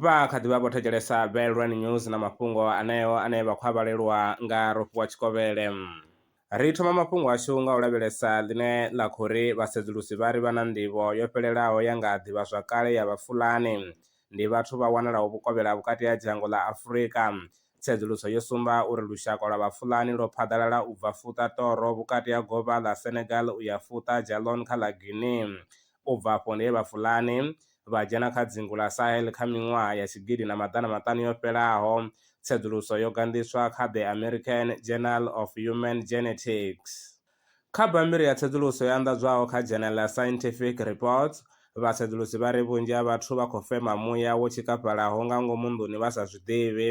vha kha ḓi vha vho thetshelesa Belrun News na mafhungo aneo ane vha khou a vhalelwa nga Rofhiwa Tshikovhele. Ri thoma mafhungo ashu nga u lavhelesa ḽine ḽa khou ri vhasedzulusi vha ri vha na nḓivho yo fhelelaho ya nga ḓivhazwakale ya Vhafulani ndi vhathu vha wanalaho vhukovhela ha vhukati ha dzhango ḽa Afurika. Tsedzuluso yo sumba uri lushaka lwa Vhafulani lwo phaḓalala u bva Futa Toro vhukati ha govha ḽa Senegal u ya Futa Djallon kha ḽa Guinea. U bva afho ndi he Vhafulani vha dzhena kha dzingu ḽa Sahel kha miṅwaha ya tshigidi na maḓana maṱanu yo fhelaho. Tsedzuluso yo ganḓiswa kha The American Journal of Human Genetics. Kha bammbiri ya tsedzuluso yo anḓadzwaho kha dzhenele ḽa Scientific Reports, vhasedzulusi vha ri vhunzhi ha vhathu vha khou fema muya wo tshikafhalaho nga ngomu nḓuni vha sa zwi ḓivhi.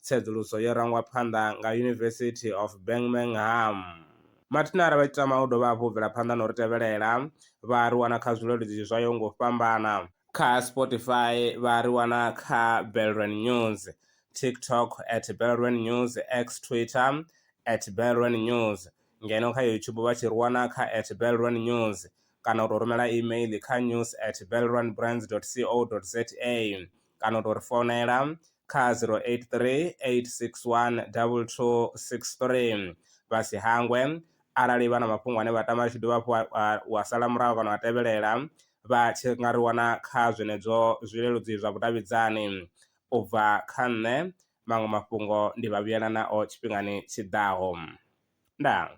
Tsedzuluso yo rangwa phanḓa nga University of Birmingham. Mathina arali vha tshi tama u dovha hafhu u bvela phanḓa na u ri tevhelela, vha a ri wana kha zwileludzi zwa yaho nga u fhambana. Kha Spotify vha a ri wana kha Belrwen News, TikTok at Belrwen News, X, Twitter, at Belrwen News. ngeno kha YouTube vha tshi ri wana kha at Belrond News kana u tou rumela email kha news at belrondbrands dot co dot za kana u tou ri founela kha 083 861 2263. Vha si hangwe arali vha na mafhungo ane vha tama a tshi dovha hafhu wa sala murahu kana wa tevhelela vha tshi nga ri wana kha zwenezwo zwileludzi zwa vhudavhidzani u bva kha nṋe maṅwe mafhungo ndi vha vhuyela nao tshifhingani tshiḓaho. Ndaa.